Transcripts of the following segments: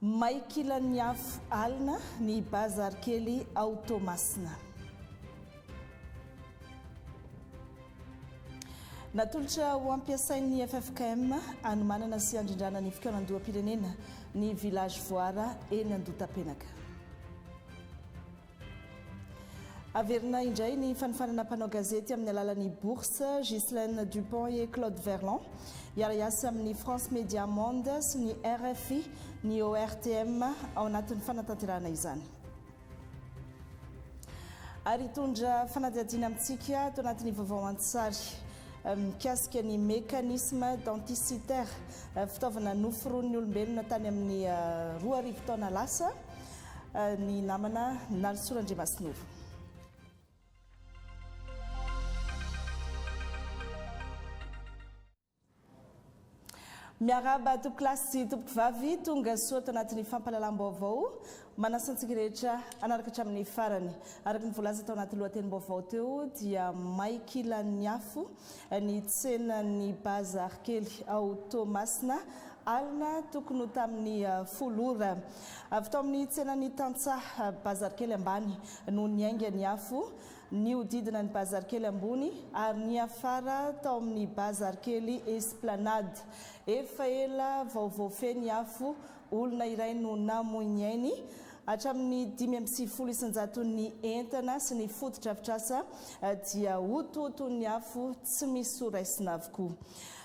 May kilan'ny afo alina ny bazary kely ao Toamasina. Natolotra ho ampiasain'ny ffkm hanomanana sy handrindrana ny fikaonandoham-pirenena ny Village Voara eny Andotapenaka. Averina indray ny fanofanana mpanao gazety amin'ny alalan'ny bourse, Ghislaine Dupont et Claude Verlon. Hiara-hiasa amin'ny France Media Monde sy ny RFI ny ORTM ao anatin'ny fanatanterahana izany. Ary hitondra fanadihadiana amintsika ato anatin'ny vaovao an-tsary mikasika ny mécanisme denticitaire, fitaovana noforonin'ny olombelona tany amin'ny roa arivo taona lasa. ny namana Nalisoa Randriamasinoro. Miarahaba tompoko lahy sy tompoko vavy tonga soa tanatin'ny fampahalalam-baovao manasa antsika rehetra anaraka hatramin'ny farany. Araka ny voalaza tao anaty lohatenim-baovao teo dia may kilan'ny afo ny tsenan'ny bazary kely ao Toamasina alina tokony ho tamin'ny folo ora. Avy tao amin'ny tsenan'ny tantsaha, bazary kely ambany, no niainga ny afo, nihodidina ny bazary kely ambony, ary niafara tao amin'ny bazary kely Esplanade. Efa ela vao voafehy ny afo, olona iray no namoy ny ainy. Hatramin'ny dimy amby sivifolo isan-jaton'ny entana sy ny fotodrafitrasa dia hotohoton'ny afo tsy misy ho raisina avokoa.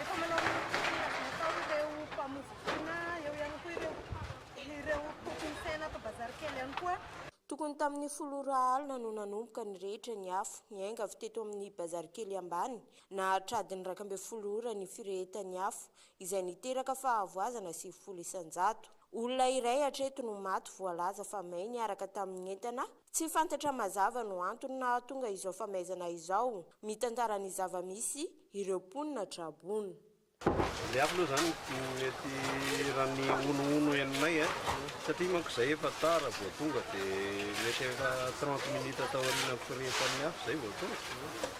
Efa manao ny tokony hatao ireo mpamofompofona, eo ihany koa ireo ireo mpompompsaina ato bazary kely ihany koa. Tokony tamin'ny folo ora alina no nanomboka ny rehetra ny afo. Niainga avy teto amin'ny bazary kely ambany, nahatradin'ny iraika ambin'ny folo ora ny firehetan'ny afo, izay niteraka fahavoazana sivifolo isan-jato. Olona iray hatreto no maty voalaza fa may niaraka tamin'ny entana Tsy fantatra mazava no antony nahatonga izao famaizana izao, mitantara ny zava-misy ireo mponina Trabona. Ny hafa aloha izany mety raha ny honohono henonay a, satria manko izay efa tara vao tonga dia mety efa trente minutes taoriana am-pirehetan'ny hafa izay vao tonga.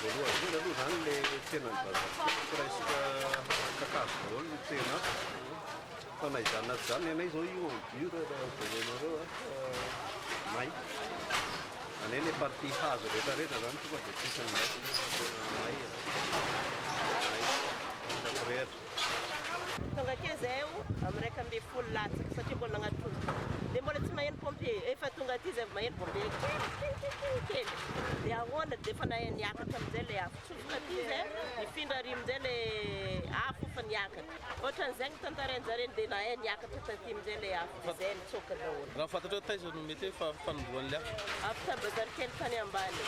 Voalohany indrindra aloha izany ilay tsenan'ny bazar dia presque kakazo daholo ny tsena ato fa na izany na tsy izany ny anay izao io en dur raha jerenareo a fa may any ilay partie hazo rehetra rehetra izany tonga dia tsisy an'izay fa tena may e. May, tena mirehatra. Tonga akeny zahay o amin'ny iraika ambin'ny folo latsaka satria mbola nagnatrongy dia mbola tsy maheno pompier efa tonga aty zay vao maheno pompier kikikikiki kely dia ahoana dia efa nahay niakatra amin'izay ilay afo tsofoka aty zay nifindra ary amin'izay ilay afo efa niakatra ohatran'izay no tantarain'jareo dia nahay niakatra taty amin'izay ilay afo. Izay nitsoaka daholo. Raha fantatrao taiza no mety hoe fanombohan'ny liaka? Afaka bazary kely tany ambany.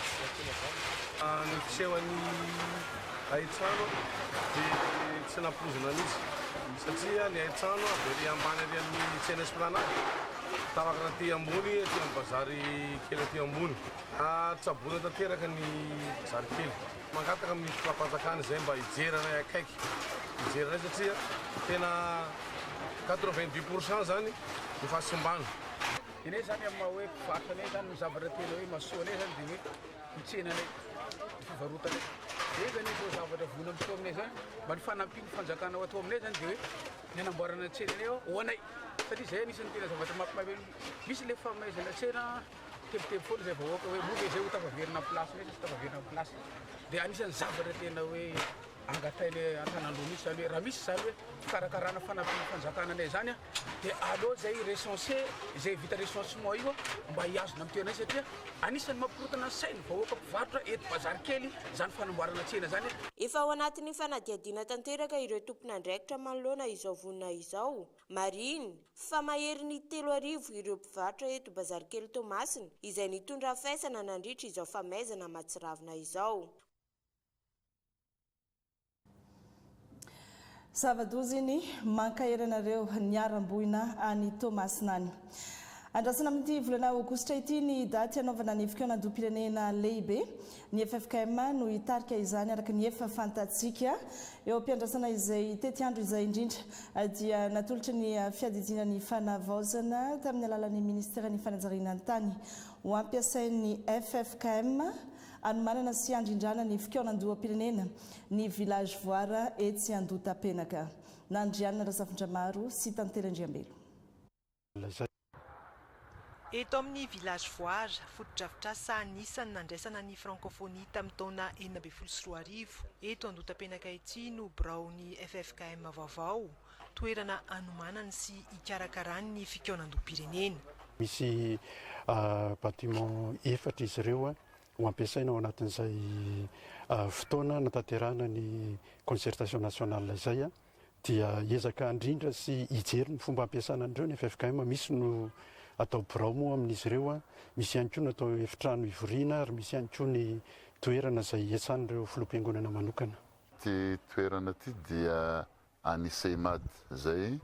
Ny fisehon'ny hain-trano dia tsy nampoizina mihitsy satria ny hain-trano dia ery ambany ery amin'ny tsena Esplanade, tarakana aty ambony aty amin'ny bazary kely aty ambony. Tsaboina tanteraka ny bazary kely. Mangataka amin'ny fitondram-panjakana izay mba hijery anay akaiky, hijery anay satria tena quatre-vingt-dix pour cent izany no fahasimbana. Dia ny zany amin'ny maha hoe mpivarotra anay zany ny zavatra tena hoe mahasoa anay zany dia ny hoe ny tsenanay, ny fivarotanay. Dia izany izao zavatra voina amin'ny soa aminay zany mba ny fanampian'ny fanjakana atao aminay zany dia hoe ny hanamboarana ny tsenanay ho anay satria izay anisan'ny tena zavatra mampimaibe, misy ilay famaizana tsena. Tebiteby foana izay vahoaka hoe moa ve izay ho tafaverina amin'ny place mihitsy sy tafaverina amin'ny place. Dia anisan'ny zavatra tena hoe angatain'ny antanandoha mihitsy izany hoe raha misy izany hoe fikarakarana fanampiana fanjakana anay izany a, dia aleo izay recenser izay vita recensement io mba hihazona amin'ny toerana izy satria anisan'ny mampikorotana ny sain'ny vahoaka mpivarotra eto Bazarikely izany fanamboarana tsena izany. Efa ao anatin'ny fanadihadiana tanteraka ireo tompon'andraikitra manoloana izao vonona izao. Marihina fa mahery ny telo arivo ireo mpivarotra eto Bazarikely Toamasina izay nitondra faisana nandritra izao famaizana mahatsiravina izao. Zava-doza iny, mankahery anareo niharam-boina any Toamasina any. Andrasana amin'ity volana aogositra ity ny daty hanaovana ny fikaonandoham-pirenena lehibe. Ny ffkm no hitarika izany araka ny efa fantatsika. Eo am-piandrasana izay tetiandro izay indrindra dia natolotry ny Fiadidiana ny Fanavaozana tamin'ny alalan'ny Ministeran'ny Fanajariana ny Tany ho ampiasain'ny ffkm hanomanana sy handrindrana ny fikaonandoham-pirenena ny Village Voir etsy Andohatapenaka. Nandrianina Razafindramaro sy Tantely Andriambelo. lazaina. Eto amin'ny Village Voir, fotodrafitrasa anisan'ny nandraisana ny Frankôfônia tamin'ny taona enina ambin'ny folo sy roa arivo, eto Andotapenaka ity no biraon'ny ffkm vaovao, toerana anomanany sy hikarakarany ny fikaonandoham-pirenena. Misy bâtiment efatra izy ireo ho ampiasaina ao anatin'izay fotoana nanatanterahana ny concertation nationale izay. dia hiezaka handrindra sy hijery ny fomba hampiasana an'ireo ny ffkm, misy no atao birao moa amin'izy ireo, misy ihany koa no atao efitrano hivoriana ary misy ihany koa ny toerana izay hiatsan'ireo filoham-piangonana manokana. Ity toerana ity dia an'ny Ceimad izay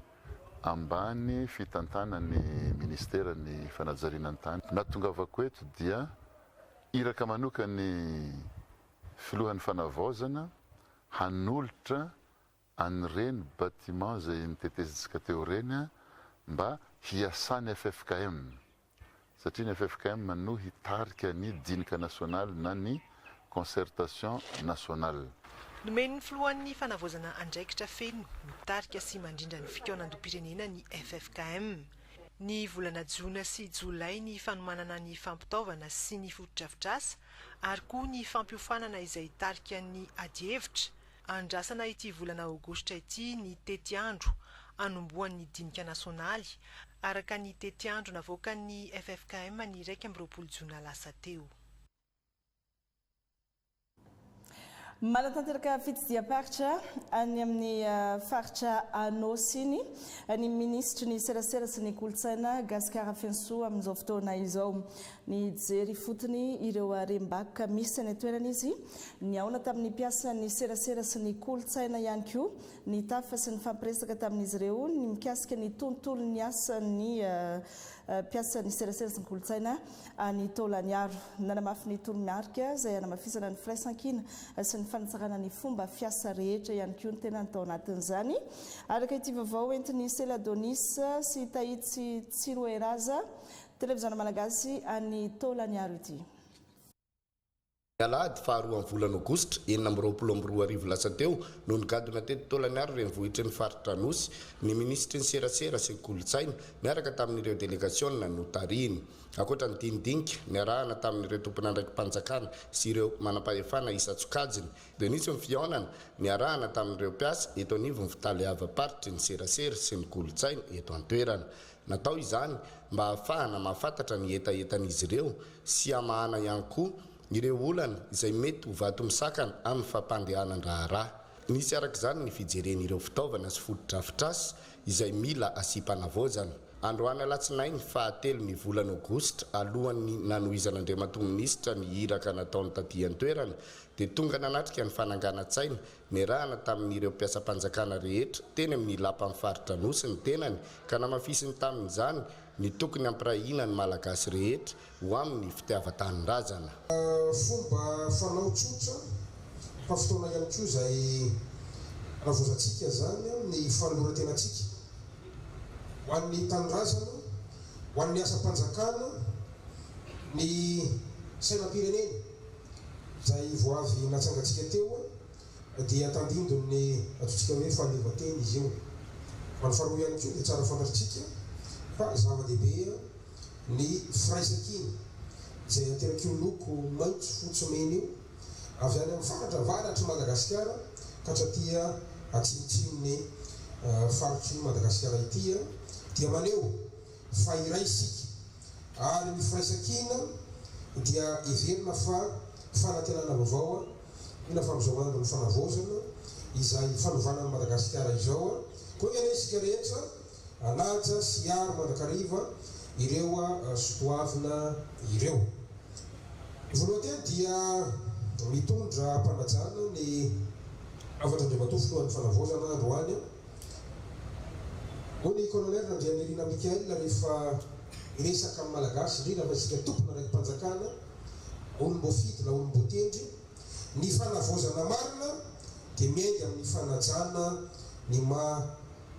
ambany fitantanan'ny Ministeran'ny Fanajariana ny Tany. Nahatongavako eto dia iraka manokan'ny Filohan'ny Fanavaozana hanolotra an'ireny bâtiments izay nitetezintsika teo ireny mba hiasan'ny ffkm satria ny ffkm no hitarika ny dinika nasionaly na ny concertation nationale. Nomen'ny Filohan'ny Fanavaozana andraikitra feno mitarika sy mandrindra ny fikaonandoham-pirenena ny ffkm. Ny volana jona sy jolay ny fanomanana ny fampitaovana sy ny fotodrafitrasa ary koa ny fampiofanana izay tarika ny adihevitra, andrasana ity volana aogositra ity ny tetiandro anombohan'ny dinika nasionaly, araka ny tetiandro navoakan'ny ffkm ny iraika amby roapolo jona lasa teo. Manatanteraka fitsidiham-paritra any amin'ny faritra Anôsy iny ny minisitry ny serasera sy ny kolontsaina Gascar Afensoa amin'izao fotoana izao. Nijery ifotony ireo harem-bakoka misy any an-toerana izy. Nihaona tamin'ny mpiasan'ny serasera sy ny kolontsaina ihany koa, nitafa sy nifampiresaka tamin'izy ireo ny mikasika ny tontolon'ny asan'ny mpiasan'ny serasera sy ny kolontsaina. any Taolagnaro. Nanamafy ny toromarika izay hanamafisana ny firaisankina sy ny fanatsarana ny fomba fiasa rehetra ihany koa ny tenany tao anatin'izany. Araka ity vaovao entin'i Sela Donis sy Tahitsy Tsiroeraza, Televiziona Malagasy any Taolagnaro ity. Ny alahady faha roa amin'ny volana aogositra enina amby roapolo amby roa arivo lasa teo no nigadona teto Tolagnaro renivohitry ny faritra Anosy ny minisitry ny serasera sy ny kolontsaina niaraka tamin'ireo delegasiona notarihiny. Ankoatra ny dinidinika niarahana tamin'ireo tompon'andraiki-panjakana sy ireo manampahefana isan-tsokajiny dia nisy ny fihaonana niarahana tamin'ireo mpiasa eto anivon'ny fitaleavam-paritry ny serasera sy ny kolontsaina eto an-toerana. Natao izany mba hahafahana mahafantatra ny hetahetan'izy ireo sy hamahana ihany koa ireo olana izay mety ho vato misakana amin'ny fampandehanan-draharaha. Nisy araka izany ny fijerena ireo fitaovana sy fotodrafitrasa izay mila asiam-panavaozana. Androany alatsinainy faha telo ny volana aogositra, alohan'ny nanohizan'Andriamatoa Minisitra ny iraka nataony taty an-toerana, dia tonga nanatrika ny fananganan-tsaina Niarahana tamin'ireo mpiasam-panjakana rehetra teny amin'ny Lapan'ny Faritra Anosy ny tenany ka namafisiny tamin'izany ny tokony hampirahina ny Malagasy rehetra ho amin'ny fitiavan-tanindrazana. Fomba fanao tsotra fa fotoana ihany koa izay navoazantsika izany amin'ny fanoloran-tenantsika ho an'ny tanindrazana, ho an'ny asam-panjakana, ny sainam-pirenena. izay vao avy natsangantsika teo dia tandindon'ny antsointsika hoe fahaleovantena izy io. Ary faharoa ihany koa dia tsara fantatritsika fa zava-dehibe ny firaisankina izay aterak'io loko maitso fotsy mena io avy any amin'ny faritra avaratr'i Madagasikara ka hatraty atsimontsimon'ny faritr'i Madagasikara ity dia maneho fa iray isika. Ary ny firaisan-kina dia heverina fa fanantenana vaovao ina fa amin'izao andron'ny fanavaozana izay fanovana an'i Madagasikara izao koa ianao isika rehetra hanaja sy hiaro mandrakariva ireo sotoavina ireo. Voalohany teny dia mitondra am-panajana ny hafatr'Andriamatoa Filohan'ny Fanavaozana androany. Hoy ny Colonel Randrianirina Michael rehefa miresaka amin'ny Malagasy, indrindra fa isika tompona raiki-panjakana, olom-boafidy na olom-boatendry, ny fanavaozana marina dia miainga amin'ny fanajana ny maha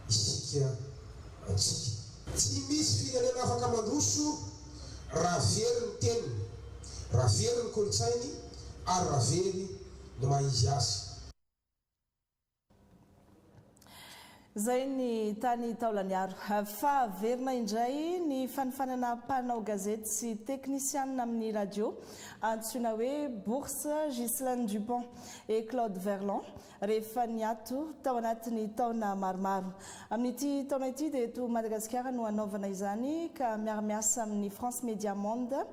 isika antsika. Tsy misy firenena afaka mandroso raha very ny teniny, raha very ny kolontsainy ary raha very ny maha izy azy. Izay ny tany Taolagnaro. Fahaverina indray ny fanofanana mpanao gazety sy teknisianina amin'ny radio, antsoina hoe Bourse Ghislain Dupont et Claude Verlon, rehefa niato tao anatin'ny taona maromaro. Amin'ity taona ity dia eto Madagasikara no hanaovana izany ka miara-miasa amin'ny France Media Monde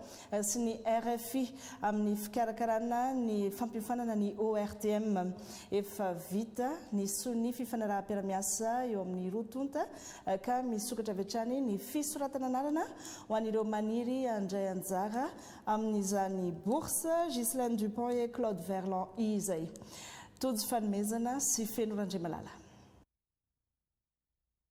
sy ny rfi amin'ny fikarakarana ny fampiofanana ny ORTM. Efa vita ny sonia fifanaraham-piarahamiasa eo amin'ny roa tonta ka misokatra avy hatrany ny fisoratana anarana ho an'ireo maniry handray anjara amin'izany bourse Ghislaine Dupont et Claude Verland izay. Tojo fanomezana sy feno Randriamalala.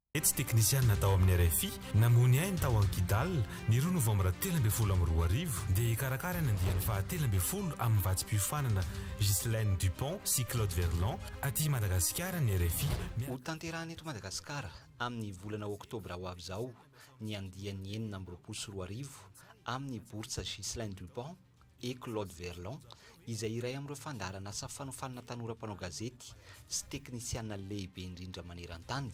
Tetsy teknisianina tao amin'ny rfi namoha ny ainy tao Ankidal, ny roa novambra telo ambin'ny folo amby roa arivo, dia hikarakara ny andiany fahatelo ambin'ny folo amin'ny vatsim-piofanana Ghislaine Dupont sy Claude Verlon aty Madagasikara ny rfi. Hotanterahina eto Madagasikara amin'ny volana oktobra ho avy izao ny andiany enina amby roapolo sy roa arivo amin'ny bourse Ghislaine Dupont, I Claude Verlon, izay iray amin'ireo fandaharan'asa fanofanana tanora mpanao gazety sy teknisiana lehibe indrindra maneran-tany,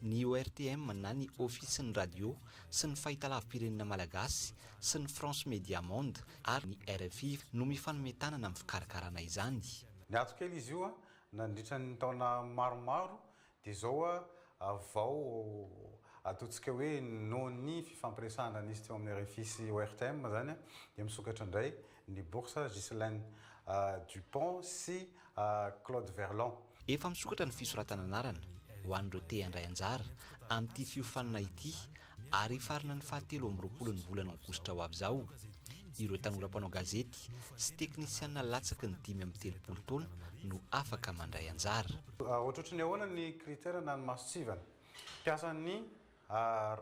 ny ORTM na ny Ofisin'ny Radio sy ny Fahitalavi-pirenena Malagasy sy ny France Media Monde ary ny rfi no mifanome tanana amin'ny fikarakarana izany. Niato kely izy io nandritra ny taona maromaro Dia izao a, vao ataontsika hoe noho ny fifampiresahana nisy teo amin'ny rfi sy ORTM izany a, dia misokatra indray ny bourse Ghislaine Dupont sy Claude Verlon. Efa misokatra ny fisoratana anarana ho an'ireo te handray anjara amin'ity fiofanana ity Ary hifarana ny fahatelo amby roapolon'ny volana aogositra ho avy izao ireo tanora mpanao gazety sy teknisiana latsaky ny dimy amby telopolo taona no afaka mandray anjara. Ohatrohatry ny ahoana ny critère na ny masontsivana? Mpiasan'ny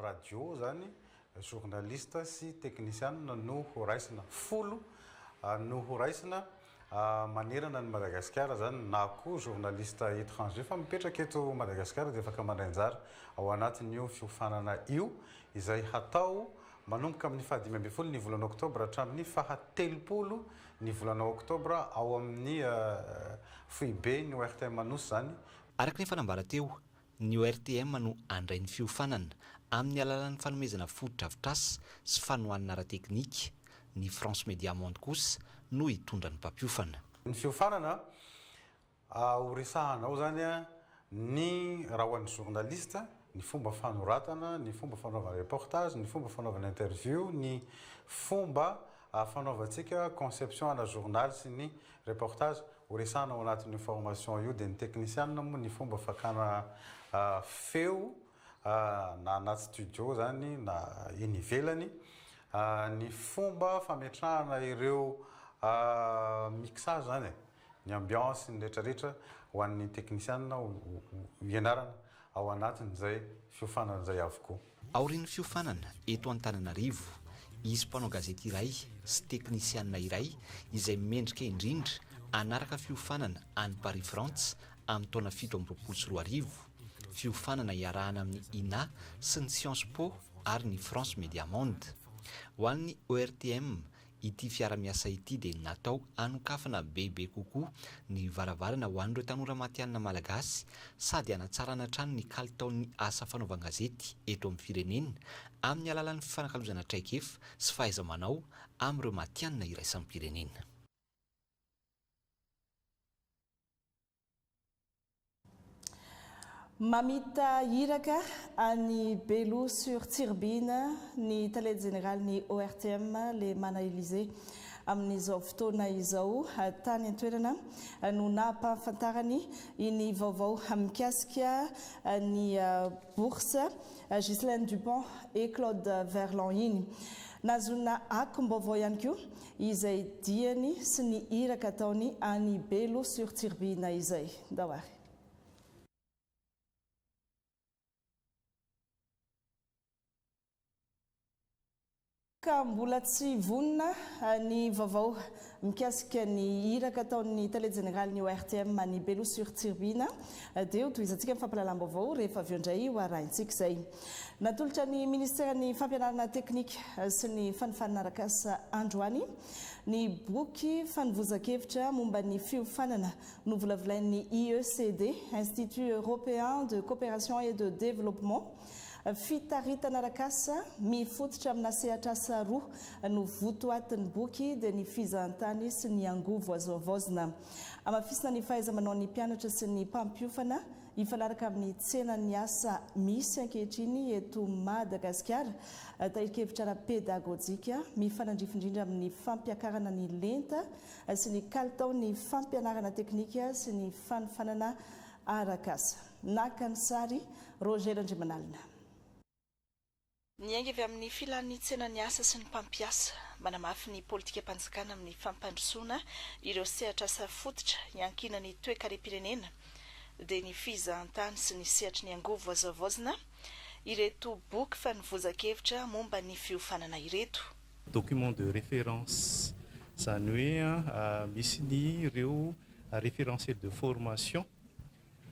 radio izany, journaliste sy teknisiana no ho raisina, folo no ho raisina. manerana an'i Madagasikara izany na koa journaliste étranger fa mipetraka eto Madagasikara dia afaka mandray anjara ao anatin'io fiofanana io izay hatao manomboka amin'ny fahadimy ambin'ny folo ny volana oktobra hatramin'ny fahatelopolo ny volana oktobra ao amin'ny foiben'ny ORTM Anosy izany. Araka ny efa nambara teo, Ny ORTM no handray ny fiofanana, amin'ny alalan'ny fanomezana fotodrafitrasa sy fanohanana ara-teknika. Ny France Media Monde kosa no hitondra ny mpampiofana. Ny fiofanana, ho resahana ao izany ny rahon'ny journaliste, ny fomba fanoratana, ny fomba fanaovana reportage, ny fomba fanaovana interview, ny fomba fanaovantsika conception ana journal sy ny reportage. Ho resahana ao anatin'io formation io dia ny teknisianina moa ny fomba fakana feo na anaty studio izany na eny ivelany, ny fomba fametrahana ireo mixage izany e, ny ambiance, ny rehetrarehetra ho an'ny teknisianina ho ianarana ao anatin'izay fiofanana izay avokoa. Aorian'ny fiofanana eto Antananarivo, hisy mpanao gazety iray sy teknisianina iray izay mendrika indrindra hanaraka fiofanana any Paris Frantsa amin'ny taona fito amby roapolo sy roa arivo, fiofanana iarahana amin'ny Ina sy ny Sciences Po ary ny France Media Monde. Ho an'ny ORTM, Ity fiara-miasa ity dia natao hanokafana bebe kokoa ny varavarana ho an'ireo tanora matihanina malagasy sady hanatsarana hatrany ny kalitaon'ny asa fanaovan-gazety eto amin'ny firenena amin'ny alalan'ny fifanakalozana traikefa sy fahaiza-manao amin'ireo matihanina iraisam-pirenena. Mamita iraka any Belo sur Tsiribihina ny tale jeneralin'ny ORTM, Lemana Elisée. Amin'izao fotoana izao, tany an-toerana no nampahafantarany iny vaovao mikasika ny bourse Ghislaine Dupont et Claude Verlon iny. Nahazoana akom-baovao ihany koa Izay diany sy ny iraka ataony any Belo sur Tsiribihina izay. Ndao ary. Ka mbola tsy vonona ny vaovao mikasika ny iraka ataon'ny Tale Jeneralin'ny ORTM any Belo sur Tsiribihina. Dia ho tohizantsika ny fampahalalam-baovao rehefa avy eo indray ho arahintsika izay. Natolotra ny Ministeran'ny Fampianarana Teknika sy ny Fanofanana Arakasa androany ny boky fanovozan-kevitra momba ny fiofanana novolavolain'ny IECD, Institut Européen de Coopération et de Développement, Fitaritana Arakasa, mifototra amina sehatr'asa roa no votoatin'ny boky dia ny fizahantany sy ny angovo azo havaozina. Hamafisina ny fahaiza-manaon'ny mpianatra sy ny mpampiofana Hifanaraka amin'ny tsenan'ny asa misy ankehitriny eto Madagasikara, tahirin-kevitra ara-pedagojika mifanandrify indrindra amin'ny fampiakarana ny lenta sy ny kalitao ny fampianarana teknika sy ny fanofanana arak'asa. Naka ny sary, Roger Randriamanalina. Niainga avy amin'ny filan'ny tsenan'ny asa sy ny mpampiasa. Manamafy ny politikam-panjakana amin'ny fampandrosoana ireo sehatr'asa fototra iankinan'ny toekarem-pirenena, dia ny fizahantany sy ny sehatry ny angovo azo havaozina, ireto boky fanovozan-kevitra momba ny fiofanana ireto. Document de référence, izany hoe misy ny ireo référentiel de formation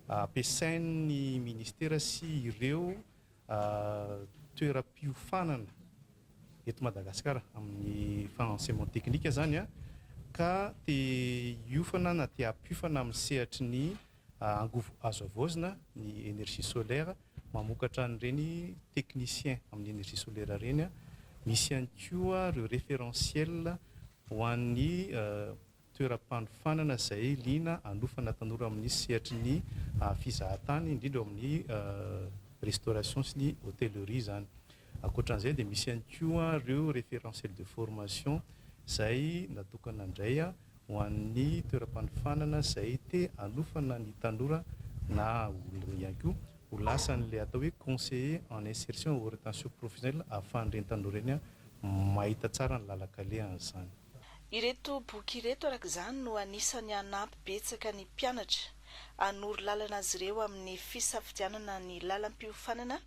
ampiasain'ny Ministera sy ireo toeram-piofanana eto Madagasikara amin'ny faha enseignement technique zany ka te hiofana na te hampiofana amin'ny sehatry ny angovo azo havaozina ny energie solaire mamokatra an'ireny technicien amin'ny energie solaire ireny misy ihany koa ireo référentiel ho an'ny toeram-panofanana izay liana hanofana tanora amin'ny sehatry ny fizahan-tany, indrindra ao amin'ny restauration sy ny hotellerie izany. Ankoatra an'izay dia misy ihany koa ireo référentiel de formation izay natokana indray ho an'ny toeram-panofanana izay te hanofana ny tanora na olona ihany koa ho lasa an'ilay atao hoe conseiller en insertion orientation professionnelle ahafahan'ireny tanora ireny mahita tsara ny lalan-kalehan'izany. Ireto boky ireto araka izany no anisan'ny hanampy betsaka ny mpianatra hanoro lalana azy ireo amin'ny fisafidianana ny lalam-piofanana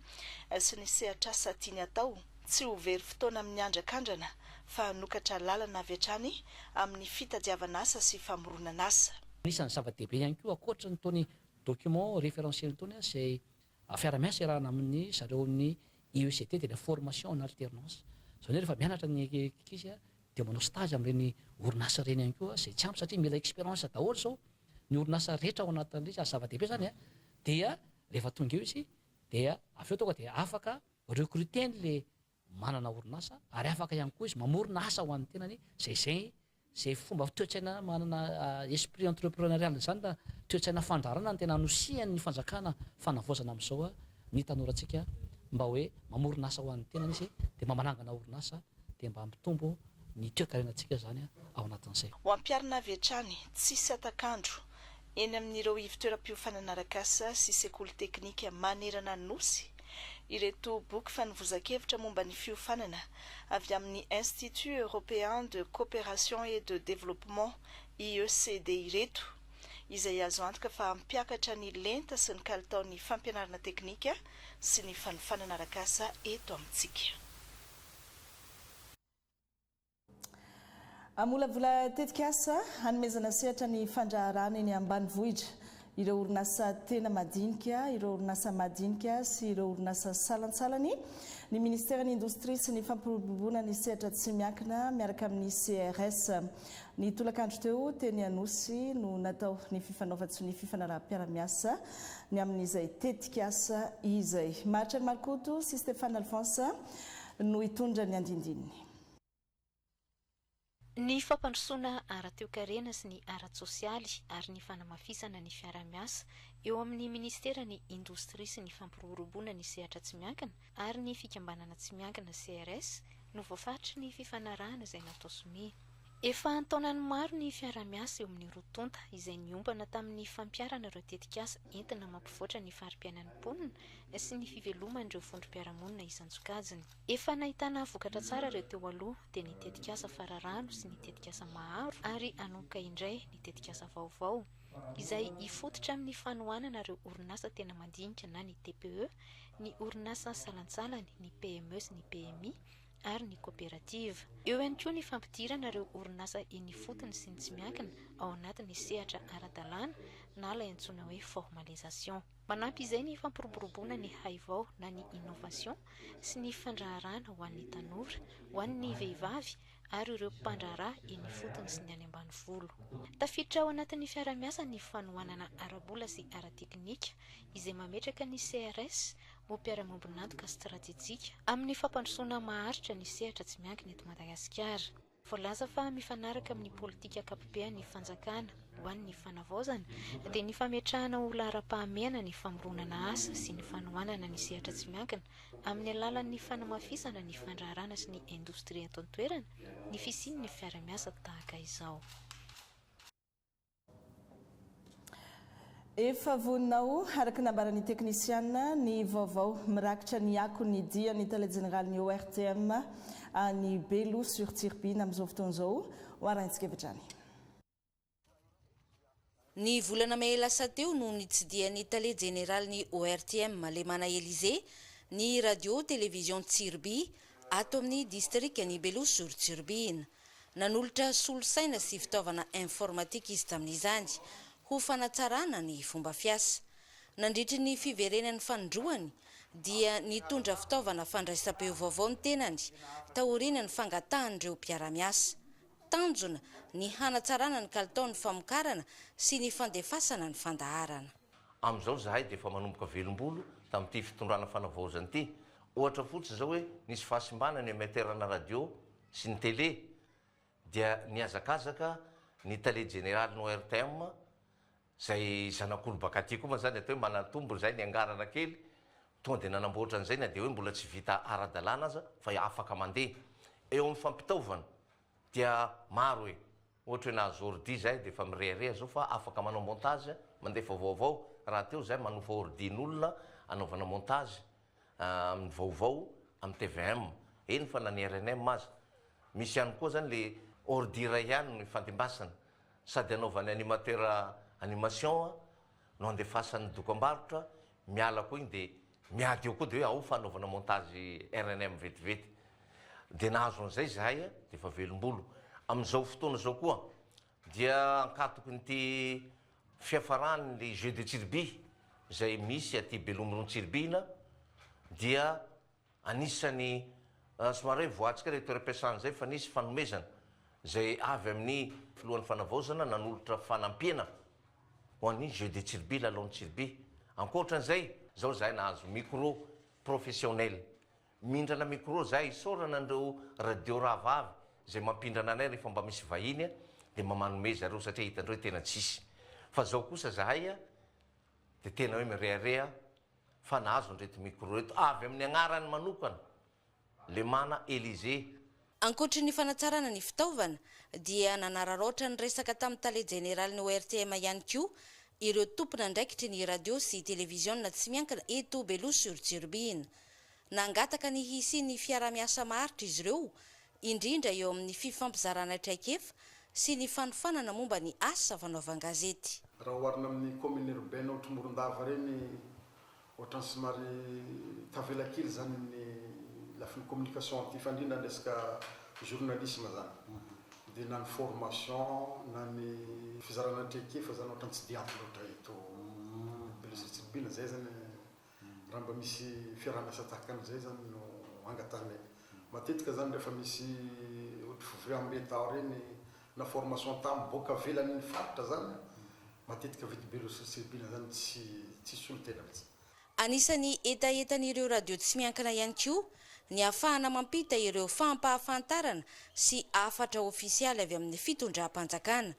sy ny sehatr'asa tiany hatao, tsy ho very fotoana amin'ny andrakandrana fa hanokatra lalana avy hatrany amin'ny fitadiavan'asa sy famoronan'asa. Anisan'ny zava-dehibe ihany koa, ankoatra an'itony document référentiel itony, izay Fiaraha-miasa iarahana amin ny zareo amin ny IECT dia ilay formation en alternance. Izany hoe rehefa mianatra ny ankizy dia manao stage amin ireny orinasa ireny ihany koa izay tsy ampy satria mila experience daholo izao ny orinasa rehetra ao anatin ilay izy ary zava-dehibe izany an! Dia rehefa tonga eo izy dia avy eo tonga dia afaka recruter an ilay manana orinasa ary afaka ihany koa izy mamorona asa ho an'ny tenany izay izay izay fomba toe-tsaina manana esprit entrepreneurial izany na toe-tsaina fandrarana ny tena anosihan'ny fanjakana fanavaozana amin'izao ny tanorantsika mba hoe mamorona asa ho an'ny tenany izy dia mba manangana orinasa dia mba hampitombo ny toe-karenantsika izany ao anatin'izay. Ho ampiharina avy hatrany, tsisy hatak'andro, eny amin'ireo ivontoeram-piofanana arakasa sy sekoly teknika manerana Nosy, ireto boky fanovozan-kevitra momba ny fiofanana avy amin'ny Institut Européen de Coopération et de Développement, IECD, ireto, izay azo antoka fa hampiakatra ny lenta sy ny kalitaon'ny fampianarana teknika sy ny fanofanana arakasa eto amintsika. Hamolavola tetikasa hanomezana sehatra ny fandraharahana eny ambanivohitra ireo orinasa tena madinika, ireo orinasa madinika sy ireo orinasa salantsalany ny Ministeran'ny Indostria sy ny Fampiroboroboana ny Sehatra Tsy Miankina miaraka amin'ny CRS. Ny tolakandro teo, teny Anosy no natao ny fifanaovan-tsonia fifanaraham-piara-miasa ny amin'izay tetikasa izay. Maharitra an'i Markoto sy Stéphane Alphonse, no hitondra ny andindininy. Ny fampandrosoana ara-toekarena sy ny ara-tsosialy ary ny fanamafisana ny fiaraha-miasa eo amin'ny Ministeran'ny Indostria sy ny Fampiroboroboana ny Sehatra Tsy Miankina ary ny Fikambanana Tsy Miankina, CRS, no voafaritry ny fifanarahana izay natao sonia. Efa an-taonany maro ny fiaraha-miasa eo amin'ny roa tonta, izay niompana tamin'ny fampiharana ireo tetikasa entina mampivoatra ny fari-piainan'ny mponina sy ny fiveloman'ireo vondrom-piarahamonina isan-tsokajiny. Efa nahitana vokatra tsara ireo teo aloha, dia ny tetikasa Fararano sy ny tetikasa Maharo ary hanomboka indray ny tetikasa vaovao, izay hifototra amin'ny fanohanana ireo orinasa tena mandinika na ny TPE, ny orinasa salantsalany, ny PME sy ny PMI, ary ny koperativa. Eo ihany koa ny fampidirana ireo orinasa eny ifotony sy ny tsy miankina ao anatin'ny sehatra ara-dalàna na ilay antsoina hoe formalisation. Manampy izay ny fampiroboroboana ny haivao na ny innovation sy ny fandraharahana ho an'ny tanora, ho an'ny vehivavy ary ireo mpandraharaha eny ifotony sy ny any ambanivolo. Tafiditra ao anatin'ny fiarahamiasa ny fanohanana ara-bola sy ara-teknika izay mametraka ny CRS ho mpiara-miombon'antoka stratejika amin'ny fampandrosoana maharitra ny sehatra tsy miankina eto Madagasikara. Voalaza fa mifanaraka amin'ny politika ankapobehan'ny fanjakana ho an'ny fanavaozana dia ny fametrahana ho laharam-pahamehana ny famoronana asa sy ny fanohanana ny sehatra tsy miankina amin'ny alalan'ny fanamafisana ny fandraharana sy ny indostria eto an-toerana ny fisian'ny fiara-miasa tahaka izao. Efa vonona ho, araka ny nambaran'ny teknisiana, ny vaovao mirakitra ny akon'ny dia ny Tale Jeneralin'ny ORTM any Belo sur Tsiribihina amin'izao fotoana izao. Ho arahintsika avy hatrany. Ny volana mey lasa teo no nitsidihan'ny Tale Jeneralin'ny ORTM, Lemana Elisée, ny Radio Télévision Tsiribihina, ato amin'ny distrikan'i Belo Sorotsorobina. Nanolotra solosaina sy fitaovana informatika izy tamin'izany, ho fanatsarana ny fomba fiasa. Nandritry ny fiverenan'ny fanindroany, dia nitondra fitaovana fandraisam-peo vaovao ny tenany, taorian'ny fangatahan'ireo mpiara-miasa. Tanjona ny hanatsarana ny kalitaon'ny famokarana sy ny fandefasana ny fandaharana. Amin'izao izahay dia efa manomboka velom-bolo tamin'ity fitondrana fanavaozana ity. Ohatra fotsiny izao hoe nisy fahasimbana ny emiateranà radio sy ny tele, dia nihazakazaka ny tale jeneralin'ny ORTM, izay zanak'olo baka aty koa moa izany, atao hoe manantombo izay niangarana kely, tonga dia nanamboatra an'izay na dia hoe mbola tsy vita ara-dalàna aza fa afaka mandeha. Eo amin'ny fampitaovana dia maro e! Ohatra hoe nahazo ordi izahay dia efa mirehareha izao fa afaka manao montage, mandefa vaovao, rahateo izahay manofa ordi n'olona anaovana montage amin'ny vaovao amin'ny tvm, eny fa na ny rnm aza. Misy ihany koa izany ilay ordi iray ihany no ifandimbasana, sady anaovan'ny animateur animation no andefasany ny dokambarotra, miala koa iny dia. Miady eo koa dia hoe ao fanaovana montage rnm vetivety. Dia nahazo an'izay izahay dia efa velom-bolo. Amin'izao fotoana izao koa dia ankatokin'ity fiafaran'ny Jeux de Tsiribia izay misy aty Belomirono Tsiribihina dia anisan'ny somary hoe voatsika ilay toeram-piasana izay fa nisy fanomezana izay avy amin'ny filohan'ny fanavaozana nanolotra fanampiana Ho an'ny Jeux de Tsiribia, Lalaon'i Tsiribia. Ankoatran'izay, izao izahay nahazo micro professionnel. Mindrana micro izahay isaorana an'ireo radio rahavavy izay mampindrana anay rehefa mba misy vahiny dia mba manome zareo satria hitandreo hoe tena tsisy. Fa izao kosa izahay dia tena hoe mirehareha fa nahazo an'ireto micro ireto avy amin'ny agnarany manokana. Lemana Elysée. Ankoatry ny fanatsarana ny fitaovana dia nanararaotra ny resaka tamin'ny tale jeneralin'ny ORTM ihany koa ireo tompon'andraikitry ny radio sy televiziona tsy miankina eto Beloha sur Tsirobiana. Nangataka ny hisian'ny fiaraha-miasa maharitra izy ireo, indrindra eo amin'ny fifampizarana traikefa sy ny fanofanana momba ny asa fanaovan-gazety. Raha oharina amin'ny Commune Urbaine Aotrimoron-dava ireny Ohatrany somary tavela kely zany ny lafiny communication aty fa indrindra ny resaka journalisme zany de na ny formation na ny fizarana traikefa zany ohatrany tsy de ampy loatra eto Belezotsirobiana zay zany raha mba misy fiarahamiasa tahaka an'izay zany no angatahinay matetika zany rehefa misy ohatry fivoriambe tao reny na formation tam boka avelany faritra zany matetika vita be loatra satria bina zany tsy tsy solo tena mitsy. Anisan'ny hetahetan'ireo radio tsy miankina ihany koa ny hafahana mampita ireo fampahafantarana sy hafatra ofisialy avy amin'ny fitondram-panjakana,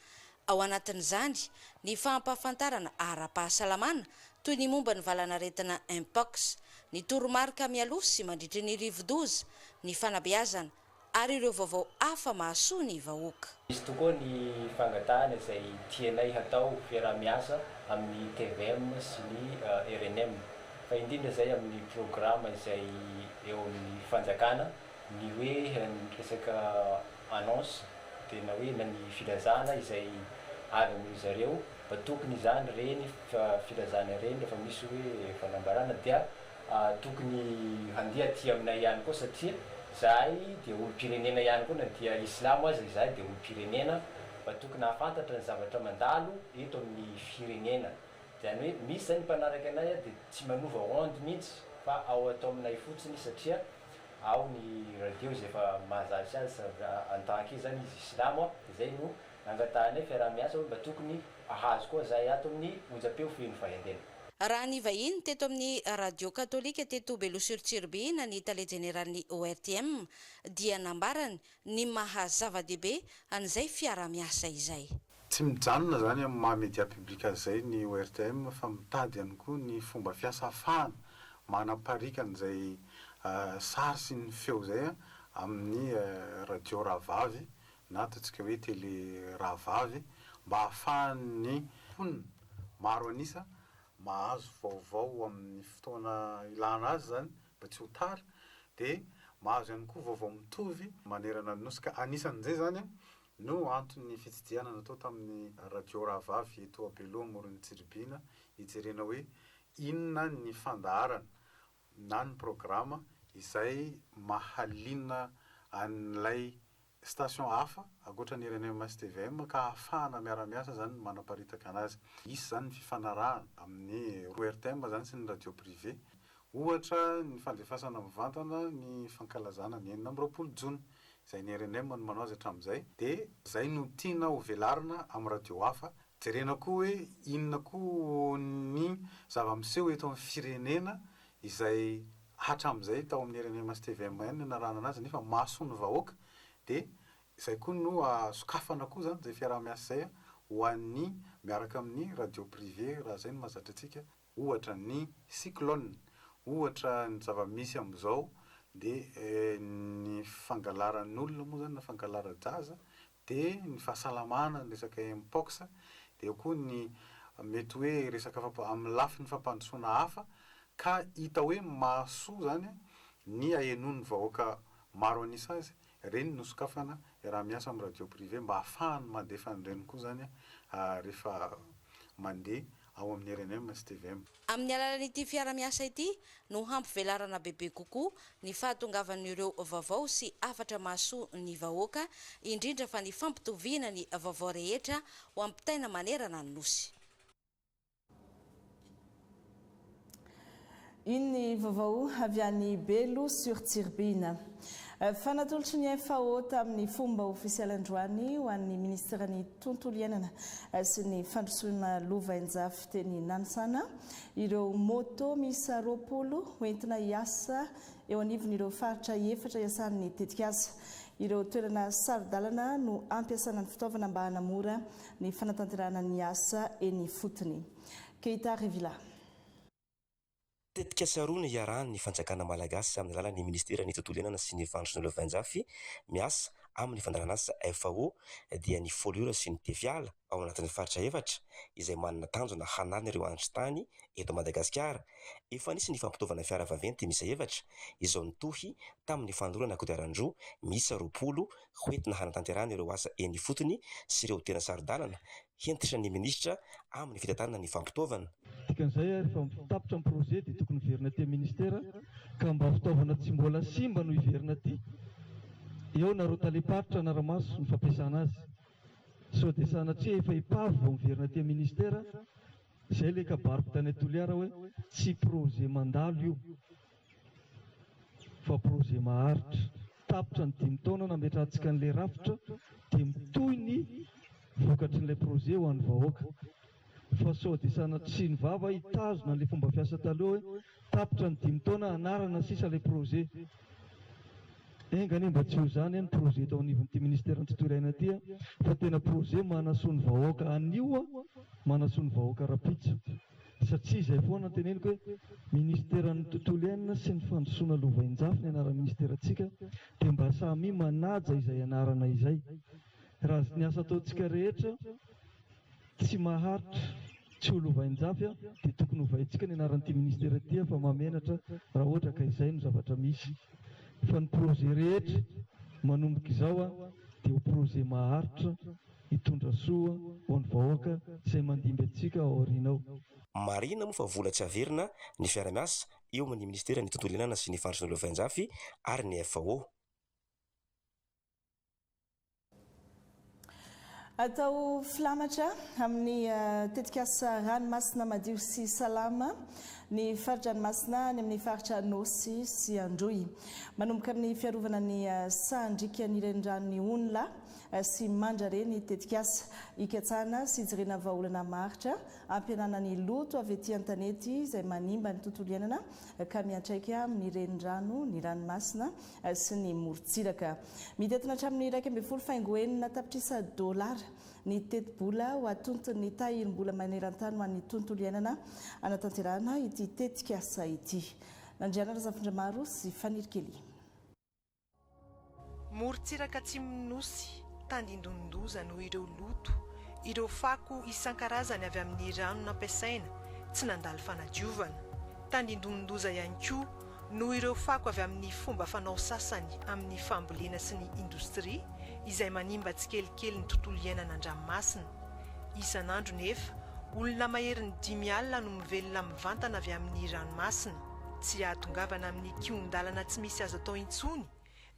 ao anatin'izany ny fampahafantarana ara-pahasalamana toy ny momba ny valanaretina Mpox, ny toromarika mialoha sy mandritry ny rivodoza, ny fanabeazana, ary ireo vaovao hafa mahasoa ny vahoaka. Misy tokoa ny fangatahana izay tianay hatao fiaraha-miasa amin'ny tvm sy ny rnm, fa indrindra izay amin'ny programa izay eo amin'ny fanjakana, ny hoe ny resaka annonce dia na hoe na ny filazana izay avy amin-dry zareo, mba tokony izany ireny filazana ireny rehefa misy hoe fanambarana dia Tokony handeha aty aminay ihany koa satria zahay dia olompirenena ihany koa na dia islamo aza izahay dia olompirenena mba tokony hahafantatra ny zavatra mandalo eto amin'ny firenena izany hoe misy izany ny mpanaraka anay dia tsy manova onde mihitsy fa ao ato aminay fotsiny satria ao ny radio izay efa mahazatra azy en tant que izany izy islamo dia izay no nangatahanay fiaraha-miasa hoe mba tokony hahazo koa zahay ato amin'ny onjam-peo feno fahaiandena. Raha nivahiny teto amin'ny radio katolika teto Beloha-sur-Tsirbihina ny tale jeneralin'ny ORTM dia nambarany ny maha zava-dehibe an'izay fiaraha-miasa izay. Tsy mijanona izany amin'ny maha media public azy izay ny ORTM fa mitady ihany koa ny fomba fiasa ahafahana manapariaka an'izay sary sy ny feo izay amin'ny radio rahavavy na ataontsika hoe tele rahavavy, mba hahafahan'ny mponina maro an'isa mahazo vaovao amin'ny fotoana ilana azy izany mba tsy ho tara, dia mahazo ihany koa vaovao mitovy manerana ny Nosy, ka anisan'izay izany no anton'ny fitsidihana natao tamin'ny radio rahavavy eto Belo Amoron'i Tsiribihina hijerena hoe inona ny fandaharana na ny programa izay mahaliana an'ilay station hafa ankoatra ny rnm sy tvm ka ahafahana miara-miasa izany ny manaparitaka anazy. Hisy izany ny fifanarahana amin'ny roa rtm izany sy ny radio privé. Ohatra ny fandefasana mivantana ny fankalazana ny enina amby roapolo jona izay ny rnm no manao azy hatramin'izay dia izay no tiana ho velarina amin'ny radio hafa Jerena koa hoe inona koa ny zava-miseho eto amin'ny firenena izay hatramin'izay tao amin'ny RMM sy tvm-1 no narahana anazy nefa mason'ny vahoaka dia izay koa no sokafana koa izany izay fiaraha-miasa izay ho an'ny miaraka amin'ny radio privé raha izay no mahazatra antsika ohatra ny cyclone, ohatra ny zava-misy amin'izao dia ny fangalaran'olona moa izany na fangalara-jaza, dia ny fahasalamana, ny resaka Mpox, dia eo koa ny mety hoe resaka fampa- amin'ny lafiny fampandrosoana hafa ka hita hoe mahasoa izany ny ahenoan'ny vahoaka maro an'isa azy Ireny no sokafana raha miasa amin'ny radio privé mba hahafahany mandefa an'ireny koa izany rehefa mandeha ao amin'ny rnm sy tvm. Amin'ny alalan'ity fiara-miasa ity no hampivelarana bebe kokoa ny fahatongavan'ireo vaovao sy hafatra mahasoa ny vahoaka, indrindra fa ny fampitoviana ny vaovao rehetra ho ampitaina manerana ny Nosy. Iny ny vaovao avy any Belo sur Tsiribihina. Fa natolotry ny FAO tamin'ny fomba ofisialy androany ho an'ny Minisiteran'ny Tontolo iainana sy ny Fandrosoana Lovainjafy teny Nanisana ireo moto miisa roapolo hoentina hiasa eo anivon'ireo faritra efatra iasan'ny tetikasa. Ireo toerana saro-dalana no hampiasana ny fitaovana mba hanamora ny fanatanterahana ny asa eny ifotony. Keita Revilla. Tetikasa roa no iarahan'ny fanjakana malagasy amin'ny alalan'ny ministeran'ny tontolo iainana sy ny Vahana Sinoa Venjafy miasa amin'ny fandaharanasa, FAO, dia ny Foliora sy ny Tefiala ao anatin'ny faritra efatra izay manana tanjona hanala ireo andrin-tany eto Madagasikara. Efa nisy ny fampitaovana fiara vaventy miisa efatra izao nitohy tamin'ny fanolorana kodiaran-droa miisa roapolo ho entina hanatanterahana ireo asa eny ifotony sy ireo tena saro-dalana, hentitra ny minisitra amin'ny fitantanana ny fampitaovana. Dikan'izay ary fa mb tapitra ny projet dia tokony hiverina aty amin'ny ministera ka mba fitaovana tsy mbola simba no hiverina aty, eo na ireo talem-paritra hanara-maso ny fampiasana azy sao dia sanatria efa epave vao miverina aty amin'ny ministera, izay ilay kabary mpitana i Toliara hoe tsy projet mandalo io. fa projet maharitra. Tapitra ny dimy taona nametrahantsika an'ilay rafitra dia mitohy ny vokatry ilay projet ho an'ny vahoaka. Fa sao dia sanatria ny vava hitazona an'ilay fomba fiasa taloha hoe tapitra ny dimy taona hanarana sisa ilay projet. Enga anie mba tsy ho izany anie ny projet eto anivon'ity ministeran'ny tontolo iaina ity fa tena projet manasoa ny vahoaka anio, manasoa ny vahoaka rahampitso. satria izay foana no teneniko hoe ministeran'ny tontolo iainana sy ny fandrosoana lovainjafy ny anaran'ny ministerantsika dia mba samia manaja izay anarana izay raha ny asa ataontsika rehetra tsy maharitra tsy ho lovainjafy a dia tokony hovaintsika ny anaran'ity ministera ity fa mamenatra raha ohatra ka izay no zavatra misy fa ny projet rehetra manomboka izao a dia ho projet maharitra hitondra soa ho an'ny vahoaka izay mandimby antsika ao aoriana ao. Marihina moa fa vola tsy averina ny fiara-miasa eo amin'ny Ministeran'ny Tontolo Iainana sy ny Faritry ny Lovainjafy ary ny FAO. Atao filamatra amin'ny tetikasa Ranomasina madio sy salama ny fari-dranomasina any amin'ny faritra Anôsy sy Androy. Manomboka amin'ny fiarovana ny sahan-drikan'ny reniranon'i Onla sy mandrare ny tetikasa hikatsahana sy hijirena vahaolana maharitra hampihenana ny loto avy ety an-tanety izay manimba ny tontolo iainana ka miantraika amin'ny renirano, ny ranomasina sy ny morontsiraka. Mitentina hatramin'ny iraika ambin'ny folo faingo enina tapitrisa dolara ny tetibola ho atonton'ny tahirim-bola maneran-tany ho an'ny tontolo iainana hanatanterahana ity tetikasa ity. Nandriana Razafindramaro sy Fanirikelina. Morontsiraka atsimon'ny Nosy, tandindonin-doza noho ireo loto, ireo fako isan-karazany avy amin'ny rano nampiasaina tsy nandalo fanadiovana. Tandindonin-doza ihany koa noho ireo fako avy amin'ny fomba fanao sasany amin'ny fambolena sy ny indostria izay manimba tsikelikely ny tontolo iainana an-dranomasina. Isan'andro nefa, olona maherin'ny dimy alina no mivelona mivantana avy amin'ny ranomasina. Tsy hahatongavana amin'ny kihon-dalana tsy misy azo atao intsony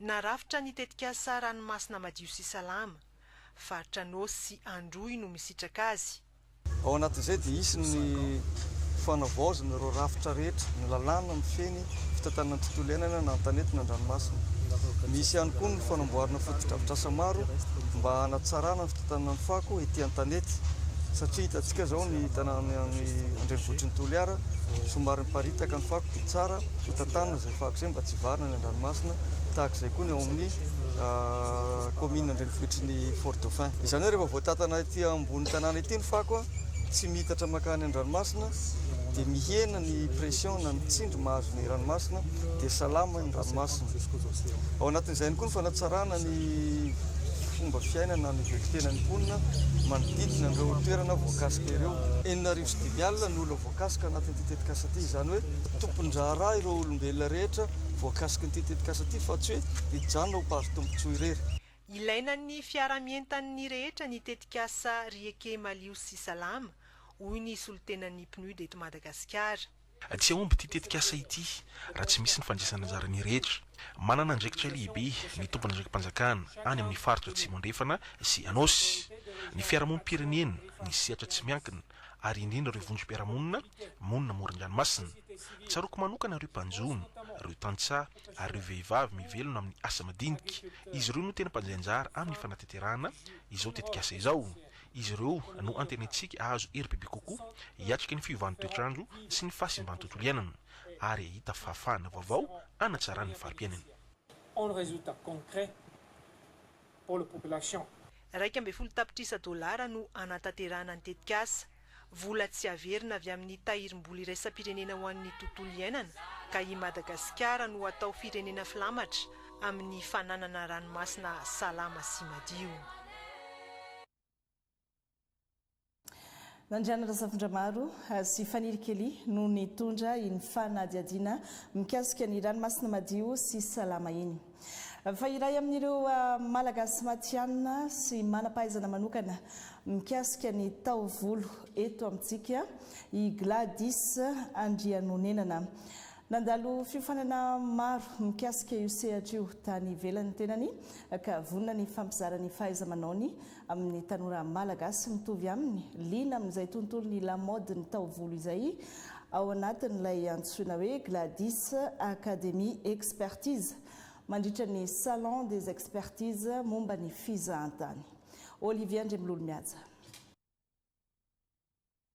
na rafitra ny tetikasa Ranomasina madio sy salama. Faritra Anôsy sy Androy no misitraka azy. Ao anatin'izay dia hisy ny fanavaozana ireo rafitra rehetra, ny lalàna mifehy ny fitantanana ny tontolo iainana na ny tanety na ny ranomasina. Misy ihany koa ny fanamboarana fotodrafitrasa maro mba hanatsarana ny Tanànan'i Fako ety Antanety, satria hitantsika izao ny tanànan'ny any an-drenivohitry ny Toliara, somary miparitaka ny fako dia tsara hotantanina izay fako izay mba tsy hivarina any an-dranomasina, tahaka izay koa ny ao amin'ny kaominina an-drenivohitry ny Fort Dauphin. Izany hoe rehefa voatantana ety ambony tanàna ety ny fako, tsy miitatra mankany an-dranomasina, dia mihena ny pression na ny tsindry mahazo. ny ranomasina dia salama ny ranomasina. Ao anatin'izay ihany koa ny fanatsarana ny fomba fiaina na ny velon-tenan'ny mponina manodidina an'ireo toerana voakasika ireo. Enina arivo sy dimy alina ny olona voakasika anatin'ity tetikasa ity, izany hoe tompon-draharaha ireo olombelona rehetra voakasikin'ity tetikasa ity fa tsy hoe hijanona ho mpandry tombontsoa irery. Ilaina ny fiarahamientan'ny rehetra ny tetikasa Rieke Malio sy Salama, hoy ny solontenan'ny PNUD eto Madagasikara. Tsy hahomby ity tetikasa ity raha tsy misy ny fandraisana anjara ny rehetra. Manana andraikitra lehibe ny tomponandraiki-panjakana any amin'ny faritra Atsimo Andrefana sy Anôsy, ny fiarahamonim-pirenena, ny sehatra tsy miankina ary indrindra ireo vondrom-piarahamonina monina amoron-dranomasina. Tsaroako manokana ireo mpanjono, ireo tantsaha ary ireo vehivavy mivelona amin'ny asa madinika. Izy ireo no tena mpandray anjara amin'ny fanateterahana izao tetikasa izao. Izy ireo no antenaintsika hahazo hery bebe kokoa hiatrika ny fiovan'ny toetr'andro sy ny fahasimban'ny tontolo iainana ary hahita fahafahana vaovao hanatsarana ny fari-piainana. En resultat concret pour le population. Iraika ambin'ny folo tapitrisa dolara no hanatanterahana ny tetikasa. Vola tsy averina avy amin'ny tahirim-bola iraisam-pirenena ho an'ny tontolo iainana ka i Madagasikara no atao firenena filamatra amin'ny fananana ranomasina salama sy madio. Nandriana Razafindramaro sy Faniry Kelly no nitondra iny fanadihadiana mikasika ny ranomasina madio sy salama iny. Fa iray amin'ireo Malagasy matihanina sy manam-pahaizana manokana mikasika ny taovolo eto amintsika i Gladys Andrianonenana. Nandalo fiofanana maro mikasika io sehatra io tany ivelany ny tenany ka vonona ny hifampizara ny fahaiza-manaony Amin'ny tanora Malagasy mitovy aminy, liana amin'izay tontolon'ny lamaodin'ny taovolo izay ao anatin'ilay antsoina hoe Gladys Academy Expertise mandritra ny Salon des Expertises momba ny Fizahantany. Olivia Andriamilolo mihaja.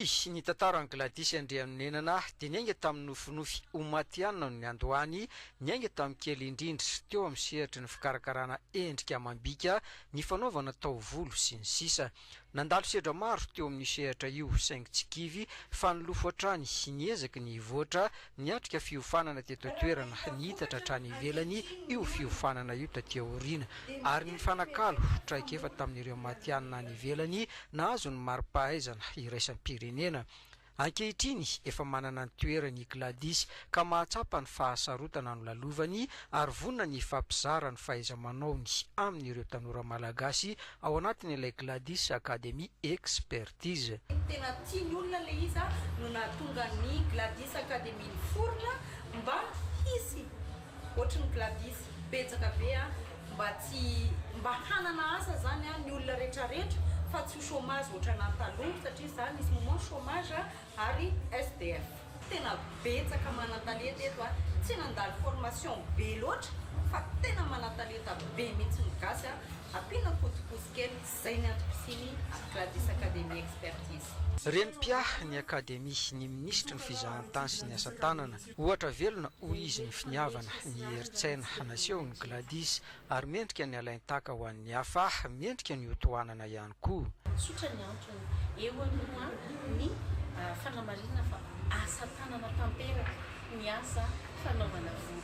Hoy ny tantaran'i Gladys Andrianonenana, dia niainga tamin'ny nofinofy ho matihanina no niandohany, niainga tamin'ny kely indrindra, teo amin'ny sehatry ny fikarakarana endrika amam-bika, ny fanaovana taovolo, sy ny sisa Nandalo sedra maro teo amin'io sehatra io, saingy tsy kivy, fa nilofo hatrany, niezaka ny hivoatra, Niatrika fiofanana teto an-toerana, niitatra hatrany ivelany io fiofanana io taty aoriana, ary nifanakalo traikefa tamin'ireo matihanina any ivelany nahazo ny mari-pahaizana iraisam-pirenena. Ankehitriny, efa manana ny toerany i Gladys, ka mahatsapa ny fahasarotana nolalovany ary vonona ny hifampizara ny fahaiza-manaony amin'ireo tanora malagasy Ao anatiny ilay Gladys Academy Expertise. Tena tian'ny olona ilay izy a, no nahatonga ny Gladys Academy niforona mba hisy ohatran'ny Gladys betsaka be a, mba tsy, mba hanana asa zany a ny olona retraretra fa tsy ho chômage ohatranan'ny taloha satria za misy moment chômage ary SDF. Tena betsaka manan-talenta eto a! Tsy nandalo formation be loatra fa tena manan-talenta be mihitsy ny gasy a! Ampiana kotokoso kely, zay ny antom-pisiany à Gladys Academy Expertise. Renimpia ny Akademy ny Minisitry ny Fizahantany sy ny Asa-tanana. Ohatra velona hoy izy ny finiavana, ny herin-tsaina nasehon'i Gladys Ary mendrika ny halain-tahaka ho an'ny hafa aho, mendrika ny hotohanana ihany koa. Tsotra ny antony eo alohan'ny fanamarinana fa asa tanana tanteraka ny asa fanaovana volo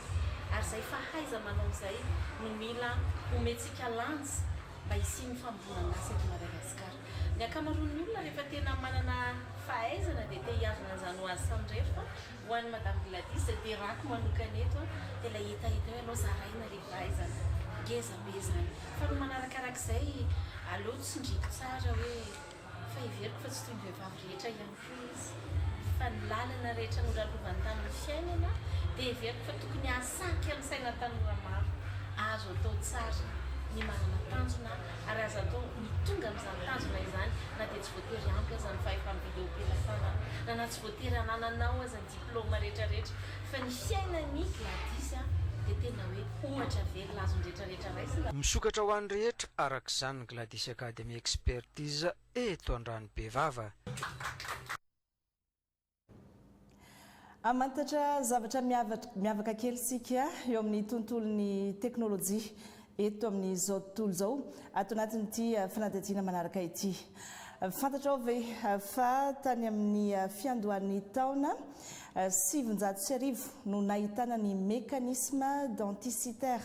ary izay fahaiza-manao izay no mila omentsika lanja mba hisian'ny famoronan'asa eto Madagasikara. Ny ankamaroan'ny olona rehefa tena manana fahaizana dia te hiavona an'izany ho azy samirery fa Ho an'i Madame Gladys dia raiko manokana eto dia ilay hetahetao ianao zaraina ry vahaizana. Ngeza be izany. Fa ny manarakarak'izay aleo tsindriako tsara hoe fa heveriko fa tsy toy ny vehivavy rehetra ihany koa izy. Fa ny lalana rehetra nolalovany tamin'ny fiainana dia heveriko fa tokony hahasarika ny saina tanora maro. Azo atao tsara ny manana tanjona ary azo atao ny tonga amin'izany tanjona izany na dia tsy voatery ampy aza ny fahefam-bideom-pielafana na Voatery anananao aza ny diplôme rehetra rehetra fa ny fiainan'i Gladys dia tena hoe ohatra velona azon'ny rehetra rehetra raisina. Misokatra ho an'ny rehetra araka izany ny Gladys Academy Expertise eto Andranobevava. Hamantatra zavatra miavaka kely isika eo amin'ny tontolon'ny teknolojia. eto amin'izao tontolo izao ato anatin'ity fanadihadiana manaraka ity. Fantatrao ve fa tany amin'ny fiandohan'ny taona sivinjato sy arivo no nahitana ny mécanisme denticitaire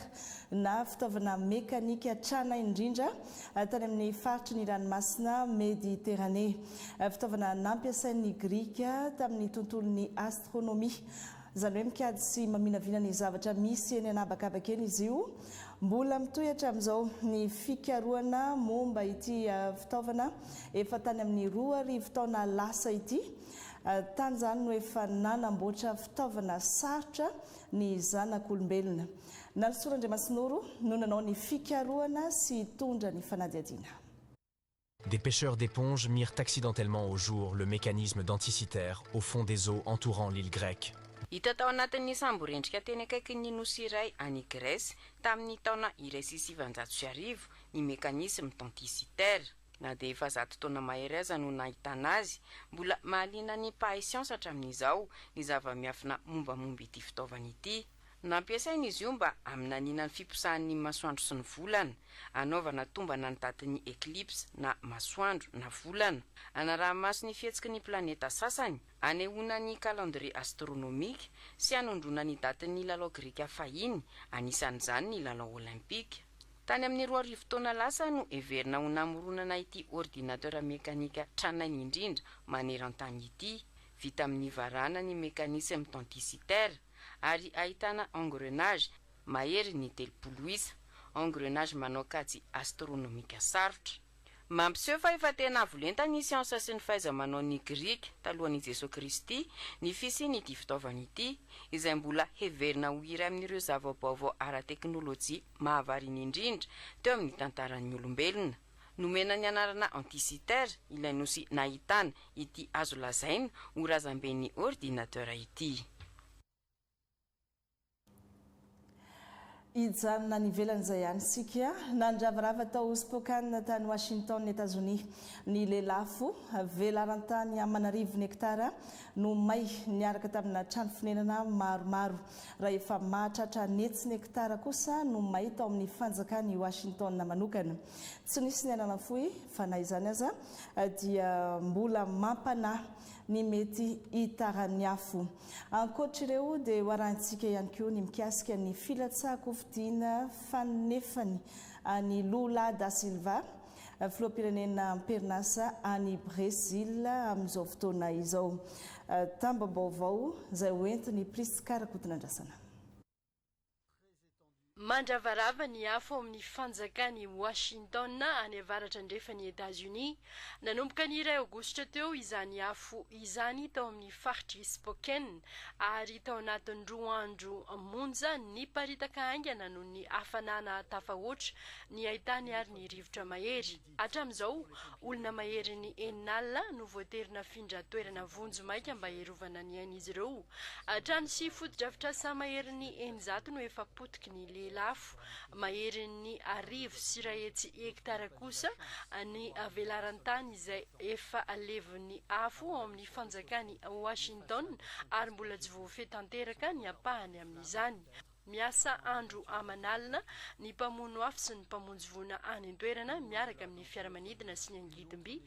na fitaovana mekanika trana indrindra tany amin'ny faritry ny ranomasina Mediterranée, fitaovana nampiasain'ny Grika tamin'ny tontolon'ny astronomia. Izany hoe mikajy sy maminavina ny zavatra misy eny an'habakabaka eny izy io. Mbola mitohy hatramin'izao ny fikarohana momba ity fitaovana efa tany amin'ny roa arivo taona lasa ity. Tany izany no efa nanamboatra fitaovana sarotra ny zanak'olombelona. Nalisoan'Andriamasinoro no nanao ny fikarohana sy hitondra ny fanadihadiana. Des pêcheurs d'éponge mirent accidentellement au jour le mécanisme denticitaire au fond des eaux entourant l'île grecque. Hita tao anatin'ny samborendrika teny akaikin'ny nosy iray any Grèce tamin'ny taona iray sy sivinjato sy arivo ny mécanisme denticitaire. Na dia efa zato taona mahery aza no nahitana azy, mbola mahaliana ny mpahay siansa hatramin'izao ny zava-miafina mombamomba ity fitaovana ity. Nampiasaina izy io mba haminaniana ny fiposahan'ny masoandro sy ny volana, hanaovana tombana ny datin'ny eclipse na masoandro na volana, hanaraha-maso ny fihetsiky ny planeta sasany, hanehoana ny calendrier astronomique, sy hanondroana ny datin'ny lalao grika fahiny, anisan'izany ny lalao olympika. Tany amin'ny roa arivo taona lasa no heverina ho namoronana ity ordinateur mekanika tranainy indrindra maneran-tany ity, vita amin'ny varahana ny mekanisy mitantisitera, ary ahitana engrenage mahery ny telopolo isa, engrenage manao kajy astronomika sarotra. Mampiseho fa efa tena avo lenta ny siansa sy ny fahaiza-manao ny Grika talohan' i Jesoa Kristy ny fisian' ity fitaovana ity, izay mbola heverina ho iray amin' ireo zava-baovao ara-teknôlôjia mahavariana indrindra teo amin' ny tantaran' ny olombelona. Nomena ny anarana Antisiter ilay nosy nahitana ity azo lazaina ho razamben'ny ordinateur ity. Hijanona any ivelany izay ihany isika. Nandravarava tao Spokane tany Washington, Etazonia, ny lelafo. Velaran-tany aman'arivony hektara no may niaraka tamina trano fonenana maromaro. Raha efa mahatratra an'hetsiny hektara kosa no may tao amin'ny fanjakan'i Washington manokana. Tsy nisy ny hanana fohy, fa na izany aza dia mbola mampanahy ny mety hitaran'ny afo. Ankoatr'ireo dia hoarahintsika ihany koa ny mikasika ny filatsahan-kofidiana fanefany an'i Lula da Silva, Filoham-pirenena am-perinasa any Brezila amin'izao fotoana izao. Tambam-baovao izay ho entin'i Prisca Rakotonandrasana. Mandravarava ny afo ao amin'ny fanjakan'i Washington, any avaratra andrefan'i Etazonia. Nanomboka ny iray Aogositra teo izany afo izany tao amin'ny faritr'i Spokane, ary tao anatin'ny roa andro monja, niparitaka haingana noho ny hafanana tafahoatra ny haitany ary ny rivotra mahery. Hatramin'izao, olona maherin'ny enina alina no voatery nafindra toerana vonjy maika mba hiarovana ny ain'izy ireo. Trano sy fotodrafitrasa maherin'ny eninjato no efa potiky ny lehelafo, maherin'ny arivo sy iray hetsy hektara kosa ny velaran-tany izay efa levon'ny afo ao amin'ny fanjakan'i Washington ary mbola tsy voafehy tanteraka ny ampahany amin'izany. Miasa andro aman'alina ny mpamono afo sy ny mpamonjy voina any an-toerana miaraka amin'ny fiaramanidina sy ny angidim-by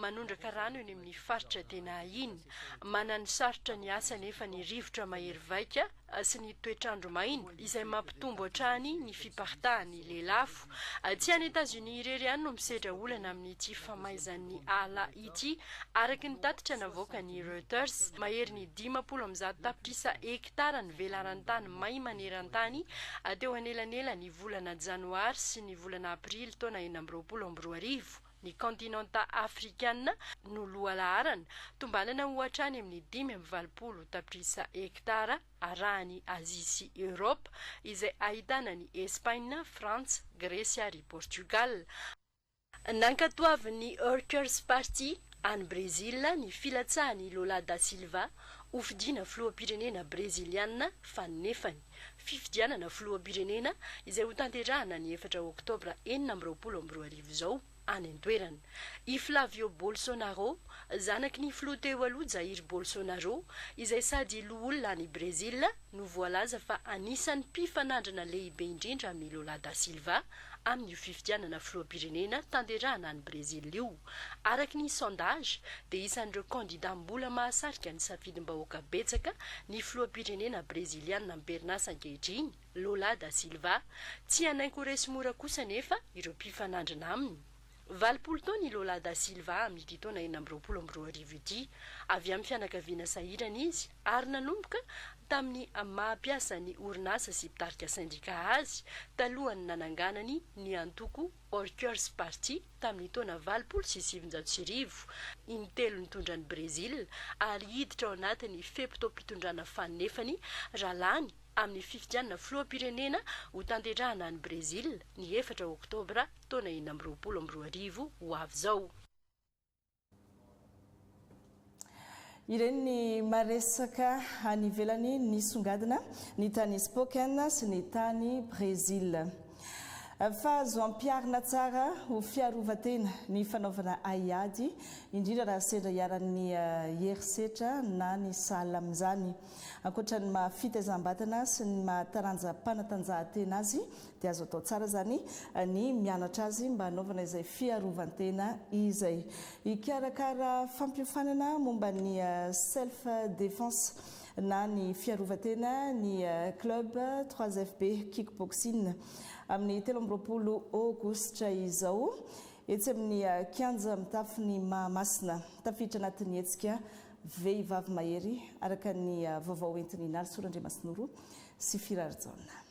manondraka rano eny amin'ny faritra tena iny. Mananosarotra ny asa anefa ny rivotra mahery vaika sy ny toetr'andro maina, izay mampitombo hatrany ny fiparitahan'ny lelafo. Tsy any Etazonia irery ihany no misedra olana amin'ity famaizan'ny ala ity. Araka ny tatitra navoakan'ny Reuters, maherin'ny dimampolo amby zato tapitrisa hekitara Mpitara ny velaran-tany may maneran-tany teo anelanelan'ny volana Janoary sy ny volana Aprily taona enina amby roapolo amby roa arivo, ny kaontinanta Afrikana no lohalaharana, tombanana ho hatrany amin'ny dimy amby valopolo tapitrisa hektara, arahan'i Azia sy Eoropa, izay ahitana an'i Espaina, Frantsa, Gresy ary Portugal. Nankatoavin'ny Workers Party any Brezila ny filatsahan'i Lula da Silva ho fidiana filoham-pirenena Breziliana fanefany. Fifidianana filoham-pirenena izay hotanterahana ny efatra Oktobra enina amby roapolo amby roa arivo izao any an-toerana. I Flavio Bolsonaro, zanaky ny filoha teo aloha Jair Bolsonaro, izay sady loholona any Brezila, no voalaza fa anisan'ny mpifanandrina lehibe indrindra amin'i Lula da Silva, amin'io fifidianana filoham-pirenena tanterahana any Brezila io. Araka ny sondage, dia isan'ireo kandida mbola mahasarika ny safidim-bahoaka betsaka ny filoham-pirenena Breziliana am-perinasa ankehitriny, Lula da Silva. Tsy hanaingo ho resy mora kosa anefa ireo mpifanandrina aminy. Valopolo taona i Lola da Silva amin'ity taona enina amby roapolo amby roa arivo ity. Avy amin'ny fianakaviana sahirana izy ary nanomboka tamin'ny maha mpiasan'ny orinasa sy mpitarika sendika azy talohan'ny nananganany ny antoko Orkers Party tamin'ny taona valopolo sy sivinjato sy arivo, intelo nitondra an'i Brezila ary hiditra ao anatin'ny fe-potoam-pitondrana fanefany raha lany amin'ny fifidianana filoham-pirenena hotanterahina any Brezila ny efatra oktobra taona enina amby roapolo amby roa arivo ho avy izao. Ireny ny maresaka any ivelany nisongadina, ny tany Spokane sy ny tany Brésil. Fa azo ampiharina tsara ho fiarovan-tena ny fanaovana haiady, indrindra raha sendra iharan'ny herisetra na ny sahala amin'izany. Ankoatra ny maha fitaizam-batana sy ny maha taranja-panatanjahantena azy Dia azo atao tsara izany ny mianatra azy mba hanaovana izay fiarovan-tena izay. Hikarakara fampiofanana momba ny self defense na ny fiarovan-tena ny club trois FB Kickboxing amin'ny telo amby roapolo Aogositra izao etsy amin'ny kianja mitafo ny Mahamasina. Tafiditra anatin'ny hetsika Vehivavy Mahery araka ny vaovao entin'i Nalisoa Randriamasinoro sy Firary Jaona.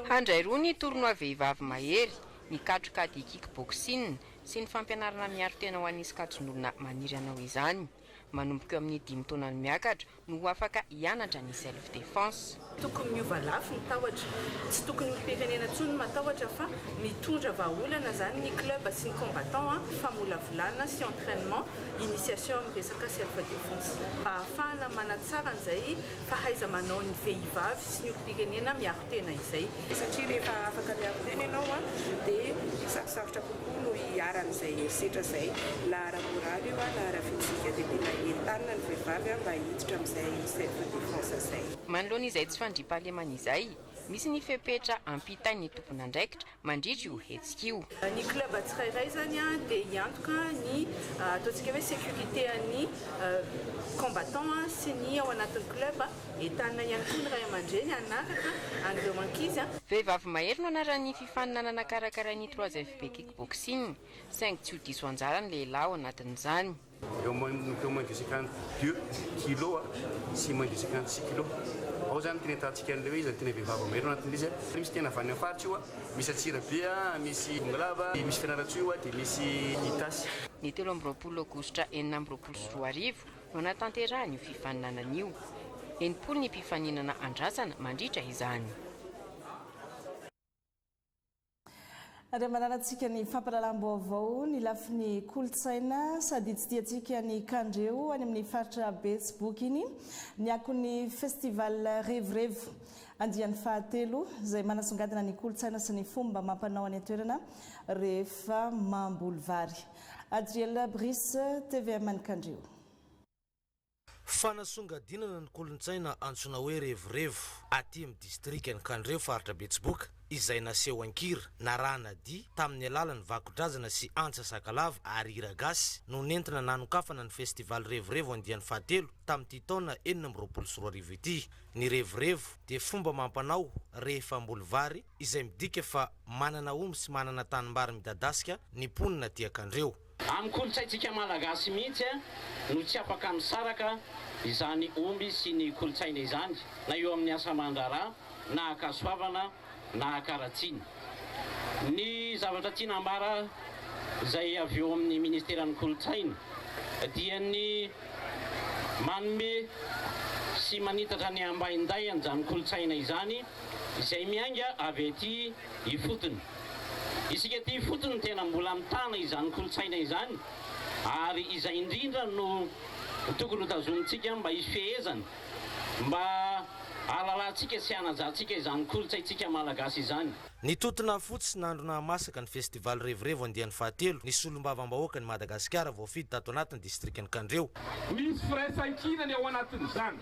Handray roa ny tournoi vehivavy mahery, ny katroka ady kickboxing sy ny fampianarana miaro tena ho an'ny sokajin'olona maniry hanao izany. Manomboka eo amin'ny dimy taona no miakatra no ho afaka hianatra ny self defense. Tokony miova lafo ny tahotra. Tsy tokony ho firenena intsony ny matahotra fa mitondra vahaolana izany ny club sy ny combattants a, famolavolana sy entrainement, initiation amin'ny resaka self defense mba ahafahana manatsara an'izay fahaiza-manaon'ny vehivavy sy ny olom-pirenena miaro tena izay. Satria rehefa afaka miaro tena ianao dia sarosarotra kokoa no hiharan'izay herisetra izay, na ara-moraly io na ara-fizika, dia tena entanina ny vehivavy mba hiditra amin'izay self defense izay. Manoloana izay tsy fandriampahalemana izay, misy ny fepetra ampitain'ny tompon'andraikitra mandritra io hetsika io. Ny club tsirairay izany dia hiantoka ny ataontsika hoe sécurité an'ny combattants sy ny ao anatin'ny club. Entanina ihany koa ny ray aman-dreny hanaraka an'ireo ankizy. Vehivavy mahery no anaran'ny fifaninanana karakarain'ny 3FB Kickboxing, saingy tsy ho diso anjara ny lehilahy ao anatin'izany. Eo manomboka moins de cinquante deux kilo sy moins de cinquante six kilo. Ao zany tena ahitantsika an'ilay hoe izany tena vehivavy mahery ao anatin'ilay izy a. Misy tena avy any amin'ny faritra io a, misy Antsirabe a, misy Bongolava, dia misy Fianarantsoa io a, dia misy Itasy. Ny telo amby roapolo aogositra enina amby roapolo sy roa arivo no hanatanterahana io fifaninanana io. Enimpolo ny mpifaninana andrasana mandritra izany. Ary amanarantsika ny fampahalalam-baovao ny lafiny kolontsaina sady hitsidihantsika ny kandreo any amin'ny faritra Betsiboky iny ny akon'ny Festival Revorevo andiany fahatelo izay manasongadina ny kolontsaina sy ny fomba amam-panao any an-toerana rehefa mamboly vary. Adriel Brice, tvm ny kandreo. Fanasongadinana ny kolontsaina antsoina hoe revirevo aty amin'ny distrikan'i Kandreho faritra Betsiboka izay naseho an-kira, narahana dihy tamin'ny alalan'ny vakodrazana sy antsa sakalava ary hira gasy no nentina nanokafana ny festival revirevo andiany fahatelo tamin'ity taona enina amby roapolo sy roa arivo ity. Ny revirevo dia fomba amam-panao rehefa hamboly vary izay midika fa manana omby sy manana tanimbary midadasika ny mponina aty Ankandreho. Amin'ny kolontsaintsika Malagasy mihitsy no tsy afaka misaraka izany omby sy ny kolontsaina izany na eo amin'ny asa aman-draharaha na ankasoavana na ankaratsiny. Ny zavatra tiana ambara izay avy eo amin'ny ministeran'ny kolontsaina dia ny manome sy manitatra ny ambaindain'izany kolontsaina izany izay miainga avy aty ifotony. Isika aty ifotony tena mbola mitana izany kolontsaina izany ary izay indrindra no tokony ho tazomintsika mba hisy fehezana, mba hahalalantsika sy hanajantsika izany kolontsaintsika malagasy izany. Nitontona fotsy nandro nahamasaka ny Festival Revirevo andiany fahatelo ny Solombavambahoakan'i Madagasikara voafidy tato anatin'ny Distrikan'i Kandreho. Misy firaisankinany ao anatin'izany.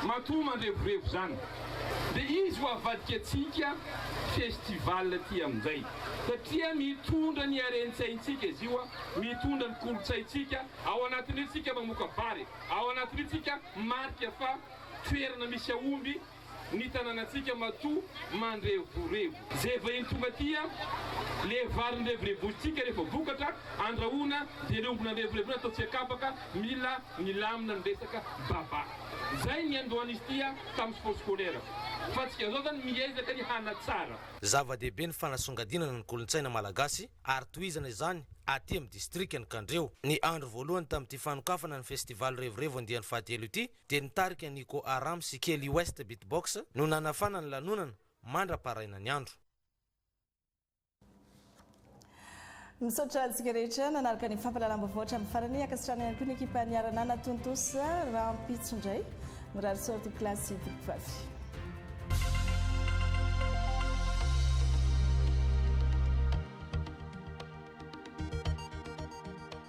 Matoa mandrevorevy izany. Dia izy ho avadika antsika festival ity amin'izay. Satria mitondra ny harentsaintsika izy io, mitondra ny kolontsaintsika. Ao anatin'io tsika mamoaka vary. Ao anatin'io tsika marika fa toerana misy aomby. ny tanànantsika matoa mandrevorevo. Zay vahiny tonga aty an! Le vary nirevirevosintsika rehefa vokatra, andrahoina dia le omby nandrevirevo iny atao tsiakapaka, mila milamina ny resaka baba. Zay ny niandohan'izy ity an! Tamin'ny sport scolaire. Fa tsika zao zany miezaka ny hanatsara. Zava-dehibe ny fanasongadinana ny kolontsaina malagasy ary tohizana izany aty amin'ny distrikan'i Kandreho. Ny andro voalohany tamin'ity fanokafana ny festival Revirevo andiany fahatelo ity dia ny tarika Nico Aram sy Kelly West Beatbox no nanafana ny lanonana mandra-paharaina ny andro. Misaotra antsika rehetra nanaraka ny fampahalalam-baovao hatramin'ny farany. Ankasitrahana ihany koa ny ekipa niara-nanatontosa rahampitso indray. Mirary soa tompoko lahy sy tompoko vavy.